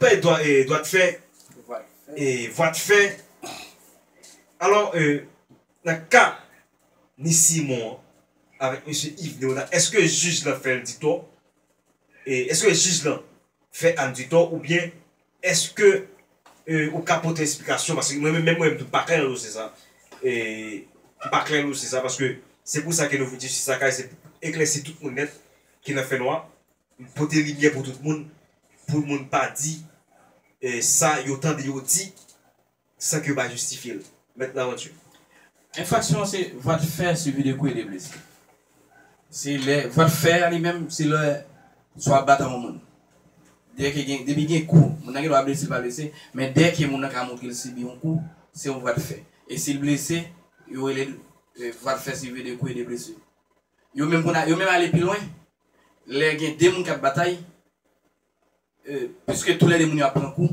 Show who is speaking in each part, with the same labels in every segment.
Speaker 1: Bay dwa t fè, vwa t fè. Alò, nan ka ni Simon an avèk mesye Iv Leona, èske jij lan fè l ditò? Èske jij lan fè Ann ditò? Oubyen èske ou ka pote esplikasyon? Paske mwen menm mwen tou m pa klè nan dosye sa. M pa klè nan dosye sa paske se pou sa ke nou vin jistis lakay, se pou eklèsi tout moun nèt ki nan fènwa. Pote limyè pou tout moun, pou moun pa di sa yo tande yo di san ke yo pa jistifye l. Mèt Larantu. Enfraksyon
Speaker 2: se vwa de fè sivi de kou e de blesi. Se lè vwa de fè a li menm se lè swa batan yon moun. Dèke gen, depi gen kou, moun nan gen dwa blese li pa blese, men dèke moun nan ka montre l sibi yon kou, se yon vwa de fè. E si l blese, yo rele l vwa de fè sivi de kou e de blesi. Yo menm konn, yo menm ale pi lwen. lè gen 2 moun kap batay e piske tou lè 2 moun yo ap pran kou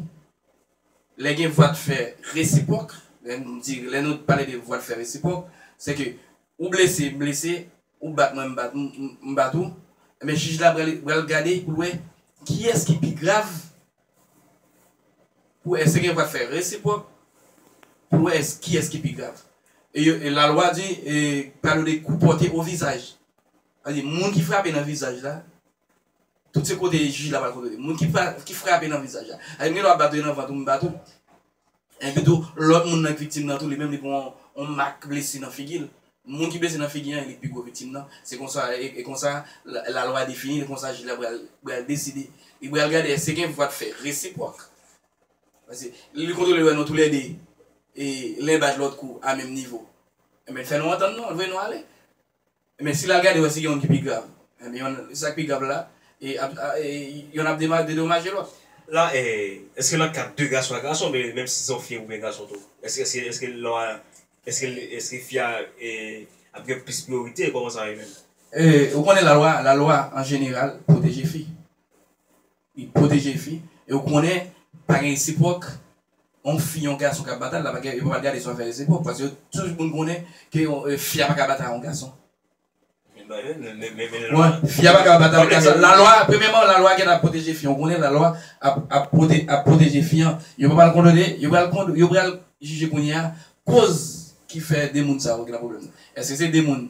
Speaker 2: lè gen vwa de fè resipwòk lè nou di lè nou pale de vwa de fè resipwòk se ke ou blese m blese ou bat mwen m bat ou m bat ou ebyen jij la pral pral gade pou l wè kiyès ki pi grav pou wè èske gen vwa de fè resipwòk pou l wè èske kiyès ki pi grav e yo e lalwa di e pale de kou pòte o vizaj. Tande moun ki frape nan vizaj la tout se kote jij la pral kontwole moun ki frape nan vizaj la tande m gen dwa bat ou e nan vant ou m bat ou enpi tou lòt moun nan k viktim nan tou li menm li pran yon mak blesi nan figi l moun ki blese nan figi an e li k pi gwo viktim nan se konsa e konsa lalwa defini l e konsa jij la pral deside li pral gade èske gen vwa de fè resipwòk paske li kontwole wè nou tou lè de len bat lòt kou a menm nivo enben fè nou antann nou vre nou ale Men si l al gade wè se gen youn ki pi grav. Enben youn e sa k pi grav la e ap a e youn ap dema dedomaje lòt. La e
Speaker 1: èske nan ka de gason a gason men menm si se youn fi oubyen gason tou? Èske èske èske lò a èske l èske fi a e ap gen plis priyorite? Kòman sa va ye menm? E ou konnen lalwa
Speaker 2: lalwa an jeneral pwoteje fi. Li pwoteje fi e ou konnen pa gen resipwòk yon fi yon gason kap batal la pa gen yo pa pral gade si wap fè resipwòk paske yo tout moun konnen ke fi a paka batay yon gason fi a paka batal gason la lwa premyèman la lwa gentan ap pwoteje fi an ou konnen la lwa ap pwoteje fi an yo pa pral kondone yo pral kondone yo pral jije kounyea koz ki fè 2 moun sa yo gentan gen pwoblèm eske se 2 moun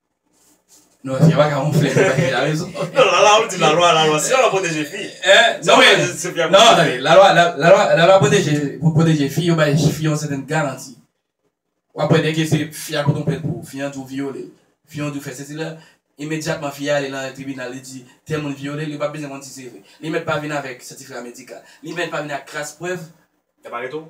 Speaker 2: Non, se pa ka moun flè se pa ki la rezon. Non, la la ou di la
Speaker 1: lwa, la lwa, se la lwa pwoteje fi. Eh, non men,
Speaker 2: non, tande, la lwa, la lwa, la lwa pwoteje, pou pwoteje fi, yo bay fi yon sèten garanti. Ou apwè dèke se fi a pote yon plent pou ou, fi an di ou vyole l, fi an di ou fè sesi la, imedyatman fi a ale nan tribinal li di tèl moun vyole l, yo pap bezwen konn si se vre. Li mèt pa vin avèk sètifika medikal, li mèt pa vin ak kras prèv. Yap arete w?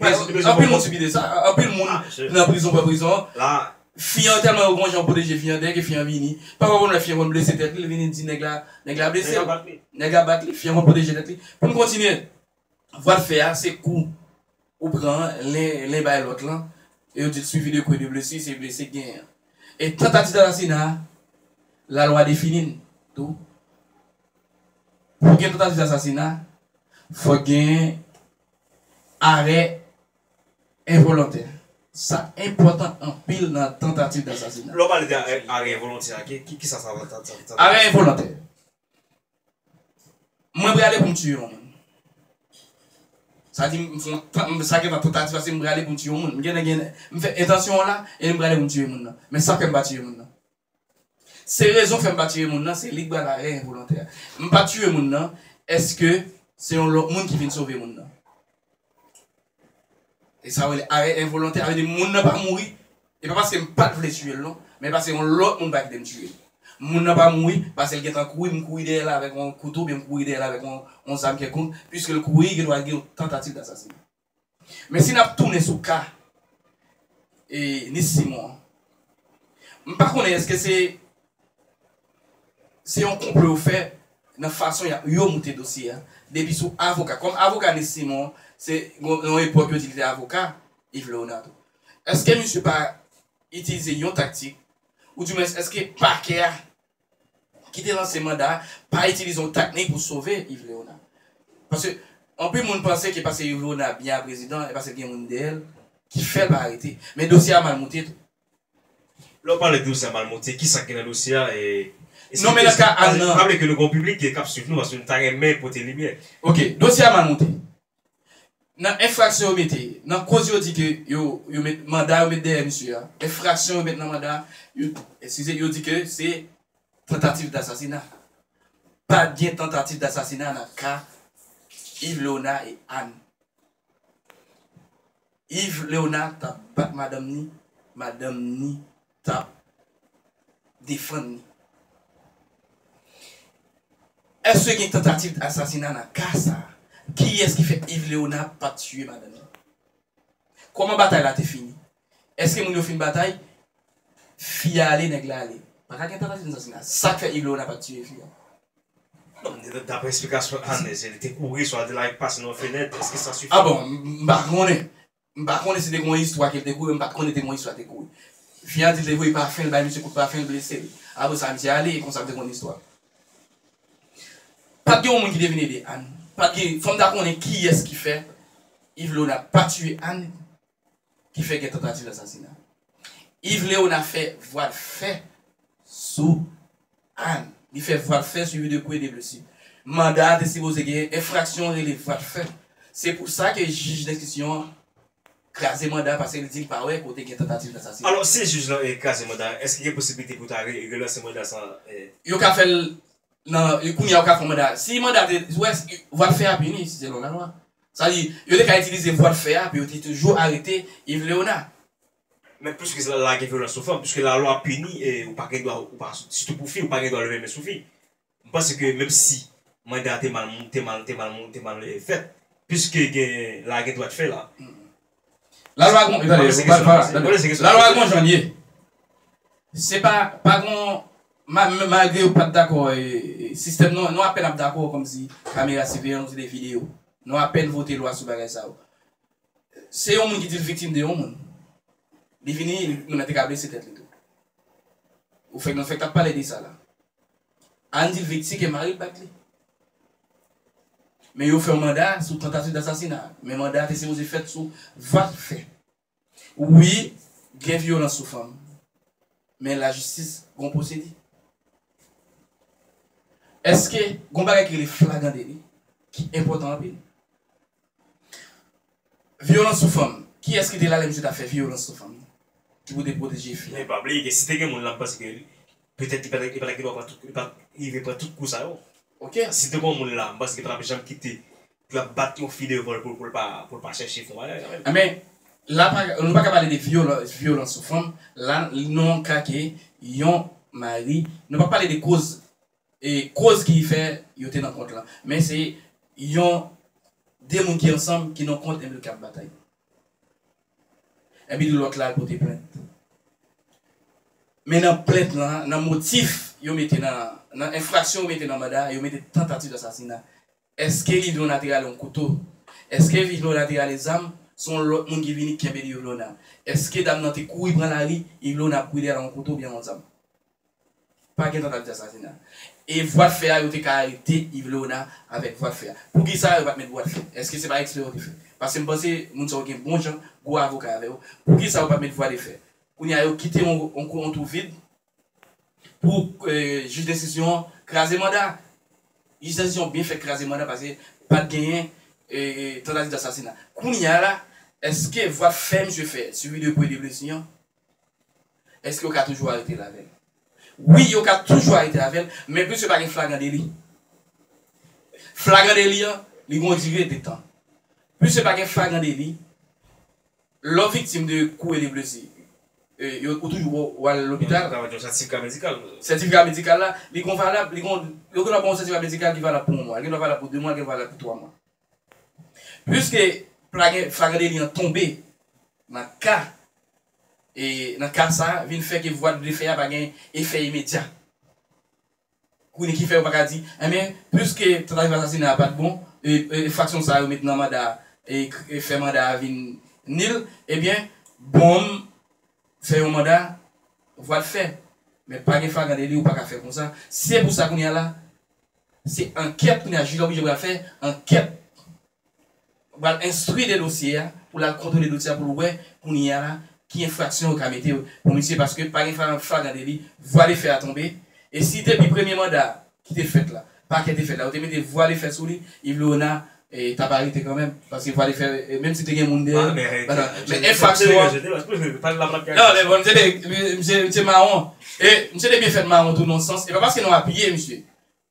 Speaker 2: Anpil moun sibi de sa, anpil moun nan prizon pran prizon, fi an
Speaker 1: tèlman yo gon
Speaker 2: jan yo pwoteje fi an dèyè ke fi an vini, pafwa konn wè fi an konn blese tèt li, li vini di nèg la, nèg la blese'l, nèg la bat li, fi an konn pwoteje tèt li. Pou'n kontinye, vwa de fè a se kou ou pran an, len bay lòt lan, e yo di'l suivi de kou e de blesu, se blese ki genyen an. E tantativ d'asasina, la lwa defini'l tou, pou gen tantativ d'asasina, fòk genyen. Arè envolontè sa enpòtan anpil nan tantativ dasasina. Lè w pale de arè
Speaker 1: envolontè a, ki sa sa vle di? Arè envolontè,
Speaker 2: Mwen prale pou m tiye yon moun. Sa di m fon sa gen nan tantativ la se m prale pou m tiye yon moun. M gen lè gen m fè entansyon an la e m prale pou m tiye moun nan. Men sa fè m pa tiye moun nan? Se rezon fèm pa tiye moun nan se lik bay lare envolontè a m pa tiye moun nan eske se yon lòt moun ki vin sove moun nan esa yo rele arè envolontè sa vle di moun nan pa mouri e pa paske m pat vle tiyel non men pase yon lòt moun pa kitem tiyel moun nan pa mouri pasel gentan kouri m kouri dèyèl avèk yon kouto oubyen m kouri dèyèl avèk yon zam kèlkonk piskel kouri gen dwa gen yon tantativ dasasinay. Men si n ap tounen sou ka Nice Simon an, m pa konnen èske se se yon konplo yo fè nan fason yo moute dosye a depi sou avoka, kòm avoka Nice Simon se yon epòk yo di li te avoka Yves Léonardo. Èske misye pa itilize yon taktik, oudiwens èske pakè a ki te lanse manda a pa itilize yon taknik pou sove Yves Léonard. Paske anpil moun panse ke paske Yves Léonard byen a prezidan e paske l gen moun dèyè l ki fè l pa arete. Men dosye a mal moute tou.
Speaker 1: Lè w pale de dosye a mal moute, ki sa k gen nan dosye a e Non men nan ka
Speaker 2: Anne nan. Raple ke nou gen yon piblik
Speaker 1: k ap swiv nou paske nou ta renmen pote limyè. Ok, dosye a mal
Speaker 2: moute. Nan enfraksyon yo mete, nan koz yo di ke yo, yo met, manda yo met dèyè misye a, enfraksyon yo met nan manda a, yo, eskize, yo di ke se tantativ dasasina. Pa gen tantativ dasasina nan ka Ilona et Anne. Yves Leona tap bat madanm ni madanm ni tap defann ni. Eske gen tantativ d asasina nan ka sa? Kiyès ki fè Yves Leona pat tiye madanm ni? Kòman batay la te fini? Eske moun yo fin batay? Fi a ale nèg la ale. Pa ka gen tentative nan sasina. Sak fè Igloena pat tiye fi a?
Speaker 1: Daprè esplikasyon Anne se li te kouri swa di like pase nan yon fenèt eske sa sifi? Ah bon m pa
Speaker 2: konnen. M pa konnen si te gon istwa ke li te kouri m pat konnen te gon istwa li te kouri. Fi a di li te voye pafen li bay misye kout pafen li blese l. Aprè sa misye ale e konsa m te konn istwa. Pat gen yon moun ki te vin ede Anne. Pat gen fòm ta konnen kiyès ki fè Ivloena pa tiye Anne. ki fè gen tantativ asasina. Yves Léonard fè vwal fè sou Anne. Li fè vwal fè suivi de kou e de blesi. Manda a te sipoze gen enfraksyon rele vwal fè. Se pou sa ke jij denstriksyon an kraze manda a paske li di li pa wè kote gen tantativ dasasina. Alò, si jij lan
Speaker 1: kraze manda a, èske gen posibilite pou ta relanse manda sa an? Yo ka fè l
Speaker 2: nan, kounye a yo ka fè yon manda. Si manda a te, vwal fè a pini selon lalwa. Sa vle di, yo te ka itilize vwa de fè a pou yo te toujou arete Yves Léonard. Men plis
Speaker 1: ke sa, la gen vyolans sou fanm, piske lalwa pini e ou pa gen dwa, ou pa, sitou pou fi, ou pa gen dwa leve men sou fi. M panse ke menm si manda a te mal, te mal, te mal, te mal fèt, piske gen, la gen dwa de fè la. La
Speaker 2: lwa gon, tande, tande, la lwa gon jan l ye. Se pa, pa gon, ma, malgre yo pat dakò e sistèm nou an, nou apèn ap dakò kòmsi kamera siveyans ou se de videyo. Nou apèn vote lwa sou bagay sa yo. Se yon moun ki di l viktim de yon moun. Li vini, moun nan te ka blese tèt li tou. Ou fèk, nou fèk tap pale de sa la. Ann di l Vecti ke mari l bat li. Men yo fè yon manda sou tantativ dasasina. Men manda a te sipoze fèt sou 20 fè. Wi, gen vyolans sou fanm. Men lajistis gen yon pwosedi. Eske gen yon bagay ki rele flagan deli ki enpòtan anpil? Vyolans sou fanm, kiyès ki te la lè misye tap fè vyolans sou fanm nan? Ki pou te pwoteje fi a? E pa bliye ke si te gen moun
Speaker 1: la m panse ke petèt li pa ta li pa ta gentan pran tout li pat rive pran tout kou sa yo. Ok. Si te
Speaker 2: gon moun la
Speaker 1: m panse ke patap janm kite pou yap bat yon fi devan l pou pou l pa pou l pa chèche fon bagay kanmenm. Anben,
Speaker 2: la pa nou pa ka pale de vyolan vyolans sou fanm, la nou an ka ke yon mari, nou pap pale de koz koz ki fè yo te nan kont lan men se yon 2 moun ki ansanm ki nan kont enpi ki ap batay enpi lòt la al pote plent men nan plent lan nan motif yo mete nan enfraksyon yo mete nan manda yo mete tantativ asasina Eske Livio Nati rale yon kouto? Eske Livio Nati rale zam? Se yon lòt moun ki vini ki kenbe Livlona. Eske dam nan te kouri pran lari, Livlona ap kouri dèyè l ak yon kouto oubyen yon zam? Pa gen tantativ asasina. E vwa de fè a yo te ka arete Livlona avèk vwa de fè a. Poukisa yo pa t met vwa de fè? Eske se pa ekspè yo te fè? Paske m panse moun sa yo gen bon jan gwo avoka avè yo. Poukisa yo pa t met vwa de fè? Kounye a yo kite yon twou vid. Pou jij desizyon an kraze manda. Jij desizyon an byen fèt kraze manda paske pat genyen tantativ dasasina. Kounya la eske vwa t fè misye fè sou video pou Elie Blessing an eske yo ka toujou aretel avèl? Wi yo ka toujou arete avèl men puiske pa gen flagran deli. Flagran deli an li gon dire de tan. Puiske pa gen flagran deli Lè w viktim de kou e de blesi, yo ou toujou wè w al lopital? Ou ka mete yon sètifika medikal.
Speaker 1: Sètifika medikal la,
Speaker 2: li gon valab, li gon, yo gen dwa ba w yon sètifika medikal ki valab pou yon mwa, li gen dwa valab pou 2 mwa, li gen dwa valab pou 3 mwa. Piske plagè, flagran deli an tonbe nan ka, e nan ka sa a, vin fè ke vwa de fè a pa gen efè imedya. Kounye ki fè yo paka di enben pwiske tantativ asasina a pat bon e fraksyon sa yo met nan manda a e fè manda a vin nil ebyen bonm fè yon manda vwa de fè men pa gen flagan deli ou paka fè konsa se pou sa kounye a la se ankèt kounye a jij la oblije pral fè ankèt pral enstwi de dosye a pou l al kontwole dosye a pou l wè kounye a la ki enfraksyon yo ka mete pou misye paske pa gen flagrant deli vwa de fè a tonbe e si depi premye manda a ki te fèt la pakè te fèt la yo te mete vwa de fè sou li Yves Leona t ap arete kanmenm paske vwa de fè menm si te gen moun dèyè l men enfraksyon an nan men bon misye mawon e misye te byen fèt mawon tou nan yon sans e pa paske nou apiye misye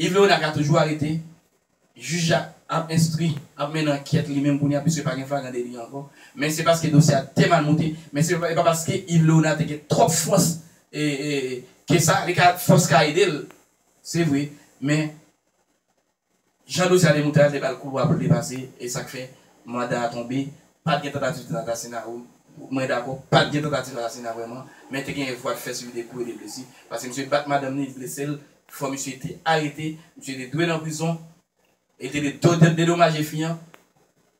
Speaker 2: Yv Leonard ka toujou arete, jij la ap enstri, ap mennen ankyèt li menm kounye a piske pa gen flagran deli ankò, men se paske dosye a te mal moute, men se pa paske Yv Leonard te gen twòp fòs ke sa, li ka fòs ka ede l se vre, men jan dosye a te moute a te bal koulwa pou l te pase e sa k fè manda a tonbe, pat gen tantativ de asasina wi, mwen dakò pat gen tantativ asasina vrèman, men te genyen vwa de fè sibi de kou e de blesi, paske misye bat madanm li, li blese l, Fò misye te arete, misye te dwe nan prizon e li te dwe dote dedomaje fi an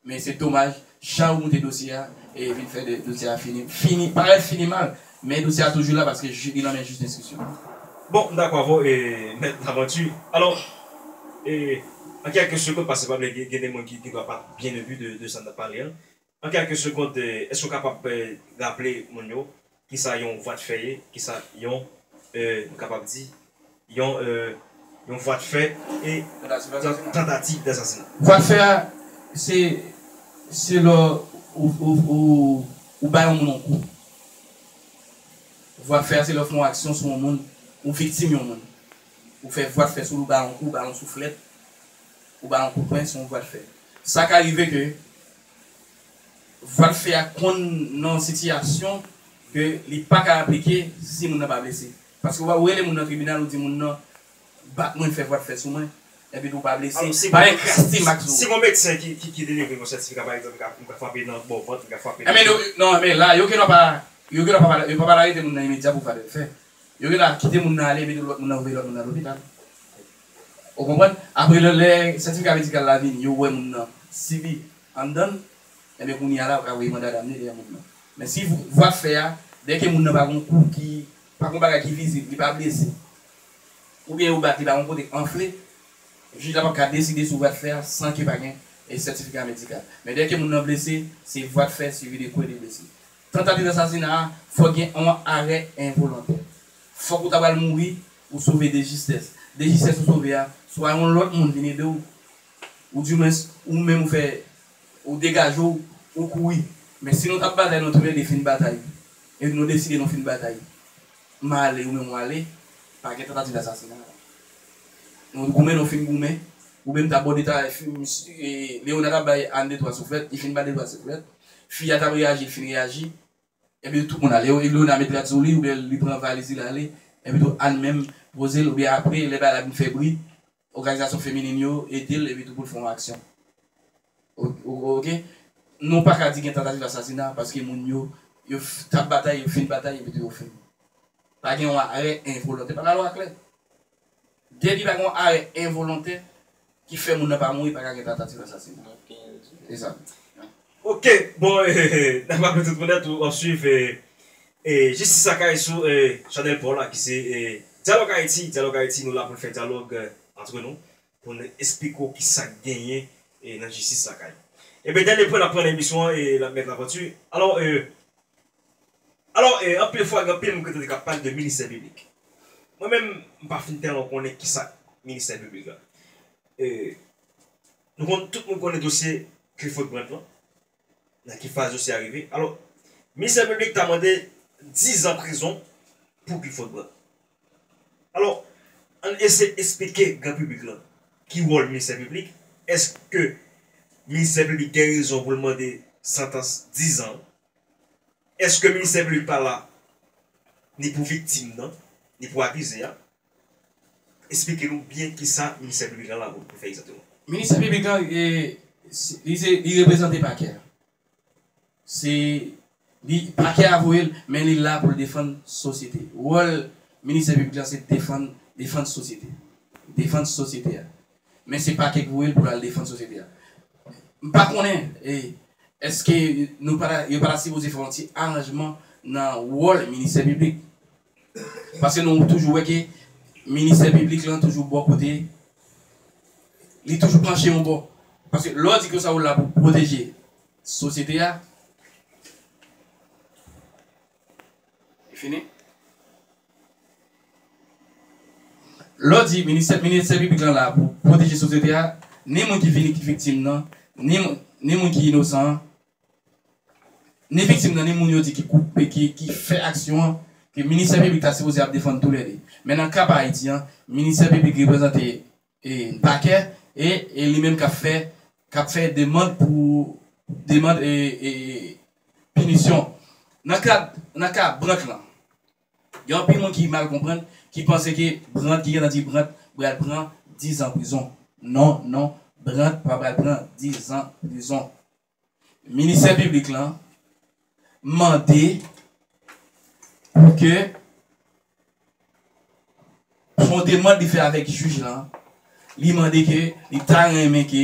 Speaker 2: men se domaj jan yo moute dosye a e vin fè dosye a fini fini parèt fini mal men dosye a toujou la paske jij li nan men jij denstriksyon. Bon, m dakò
Speaker 1: avè w e mèt Lamanti. Alò, e an kèlke sekond, paske m pa vle gen de moun ki dwa pa byen enbi de sa n ap pale an, An kèlke segond èske ou kapab raple moun yo kisa yon vwa de fè ye? Kisa yon nou kapab di yon yon vwa de fè e tantativ dasasinat. Vwa de fè a
Speaker 2: se se lò ou bay yon moun yon kou. Vwa de fè a se lè ou fè yon aksyon sou yon moun ou viktim yon moun ou fè vwa de fè sou li ou bay yon kou ou bay yon souflèt ou bay yon kout pwen se yon vwa de fè sa ka rive ke Vwal fè a konn nan sitiyasyon ke li pa ka aplike si moun nan pa blese. Paske wè ou rele moun nan tribinal ou di moun nan bat mwen fè vwal fè sou mwen epi tou pa blese, pa enkraste mak sou ou. Si gon medsen ki delivre yon sètifika
Speaker 1: pa egzanp m ka fwape nan bò vant, m ka fwape nan do. Non men la yo
Speaker 2: gendwa pa yo gendwa pa yo pa pral arete moun nan imedya pou vwal fè. Yo gendwa kite moun nan ale epi tou lòt moun nan voye lòt moun nan lopital. Ou konprann? Apre lè lè sètifika medikal la vini, yo wè moun nan, si li anndan l, enben kounye a la yo ka voye manda damne dèyè moun nan. Men si vwa k fè a, dè ke moun nan pa gon kou ki, pa gon bagay ki vizib, li pa blese, oubyen yo bat li pa gon kote k anfle, jij la p ap ka deside sou vwa k fè a san ke pa gen sètifika medikal. Men dè ke moun nan blese, se vwa k fè suivi de kwe de blesi. Tantativ asasina a fòk gen on arè envolontè. Fòk ou ta pral mouri, ou sove de jistès. De jistès ou sove a, swa yon lòt moun vin ede w, ou di mwens ou menm ou fè ou degaje w, ou kouri. Men si nou t ap batay nou tou lè de fin batay, epi nou deside nou fin batay, m ale ou menm ou ale, pa gen tantativ asasina la. Nou goumen nou fin goumen, ou menm ta bò detay, Leona ta bay Anne de twa souflèt, li fin ba de twa souflèt. Fi a tap reyaji li fin reyaji Ebyen tout moun ale epi Léonard met rad sou li oubyen li pran valiz li lale epi tou Anne menm poze l oubyen apre lè bagay la vin fè bri òganizasyon feminin yo ede l epi tou pou l fè yon aksyon ok nou paka di gen tantativ asasina paske moun yo yo tap batay yo fin batay epi tou yo fin pa gen yon arè envolonte pa lalwa klè. Depi pa gen yon arè envolontè ki fè moun nan pa mouri pa ka gen tatativ asasina. Se sa. Ok
Speaker 1: bon na raple tout moun nèt ou ap swiv Jistis Lakay sou chanèl pa w la ki se Dyalòg Ayiti, Dyalòg Ayiti nou la pou n fè dyalòg antre nou Pou nou esplike w ki sa k genyen nan jistis lakay. Ebyen dènye pwen n ap pran nan emisyon an e l ap Mèt Laventure. Alò e Alò e anpil fwa gen anpil moun ki tande k ap pale de ministè piblik. Mwen menm m pa fin tèlman konnen ki sa ministè piblik la. E nou konn tout moun konnen dosye Clifford Brandt lan. nan ki faz dosye a rive. Alò, Ministè Piblik ta mande 10 zan prizon pou Clifford Brandt. Alò, ann eseye esplike gran piblik lan ki wòl Ministè Piblik. Èske Ministè Piblik gen rezon pou l mande santans 10 zan an? Èske Ministè Piblik pa la ni pou viktim nan, ni pou akize a? Esplike nou byen kisa ministè piblik lan la pou fè egzakteman. Ministè piblik
Speaker 2: lan li reprezante pakè a. Se li pakè a voye l men li la pou l defann sosyete. Wòl ministè piblik lan se defann defann sosyete. Defann sosyete a. Men se pakè ki voye l pou l al defann sosyete a. M pa konnen èske nou pa ta yo pa ta sipoze fè yon ti aranjman nan wòl ministè piblik. Paske nou toujou wè ke ministè piblik lan toujou bò kote, li toujou panche yon bò. Paske lè w di konsa ou la pou pwoteje sosyete a, li fini. Lè w di ministè piblik lan la pou pwoteje sosyete a, ni moun ki vini ki viktim nan, ni moun ki inosan an, ni viktim nan ni moun yo di ki koupe ki fè aksyon an ke ministè piblik ta sipoze ap defann tou lè 2 men nan ka pa Ayiti an ministè piblik reprezante pakè e e li menm kap fè kap fè demand pou demand e e pinisyon nan kad nan ka brank lan. Gen anpil moun ki mal konprann, ki panse ke Brandt, ki gen tan di Brandt pral pran 10 zan prizon. Non, non, Brandt pa pral pran 10 zan prizon. Ministè Piblik lan mande pou ke son demand li fè avèk jij lan, li mande ke li ta renmen ke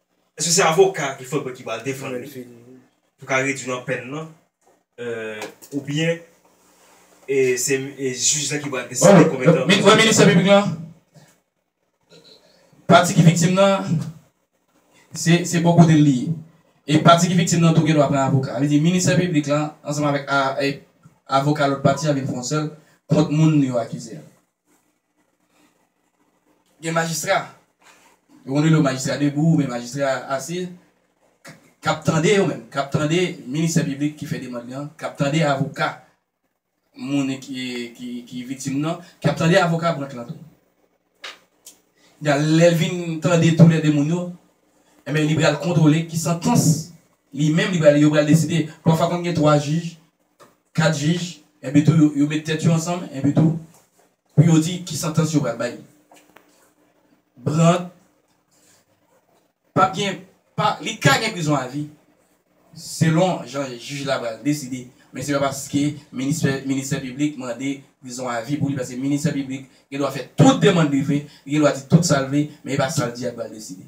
Speaker 1: Eske se avoka il faudrait ki pral defann li pou ka redwi nan pèn nan ou byen e se jij la ki pral deside konbyen tan. Mwen ministè piblik lan
Speaker 2: pati ki viktim nan se bò kote l li ye e pati ki viktim nan tou gen dwa pran avoka. Sa vle di ministè piblik lan ansanm avèk avoka lòt pati a vin fè yon sèl kont moun yo akize a. Gen majistra, yo konn rele yo majistra debou oubyen majistra ase, k ap tande yo menm, k ap tande minisè piblik ki fè demand lan, k ap tande avoka moun ki viktim nan, k ap tande avoka branch lan tou. Ebyen lè l vin tande toulè de moun yo, ebyen li pral kontwole ki santans li menm li pral yo pral deside. Pafwa konn gen 3 jij 4 jij, enpi tou yo met tèt yo ansanm, enpi tou pou yo di ki santans yo pral bay Brandt, pap gen pa li ka gen prizon avi selon jan jij la pral deside, men se pa paske ministè ministè piblik mande prizon avi pou li paske ministè piblik gen dwa fè tout demand li vle, li gen dwa di tout sa l vle, men e pa sa l di a ki pral deside.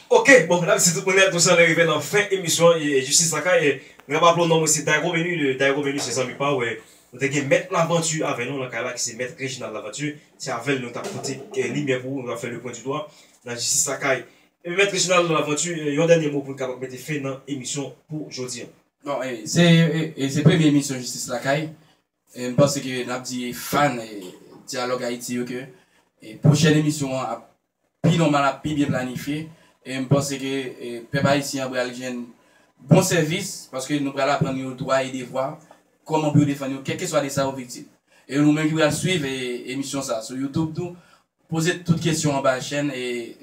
Speaker 1: Ok bon nap di tout moun mèt nou sanle rive nan fen emisyon jistis lakay mwen raple w non mwen se Dayko Menu de Dayko Menu se zanmi pa w nou te gen mèt lavanti avè nou nan kay la ki se mèt Reginald lavanti se avè l nou tap pote limyè pou ou nou tap fè le pwen di dwa nan jistis lakay mèt Reginald lavanti yon dènye mo pou n kapab mete fen nan emisyon pou jodi an. Non
Speaker 2: e se premye emisyon jistis lakay M panse ke n ap di fan Dyalòg Ayiti yo ke pwochèn emisyon an ap pi nòmal, ap pi byen planifye. E m panse ke pèp ayisyen an pral jwenn bon sèvis paske nou pral aprann yo dwa e devwa, kòman pou yo defann yo kèlkeswa de sa yo viktim. E nou menm ki pral suiv emisyon sa a sou Youtube tou, poze tout kesyon anba chèn.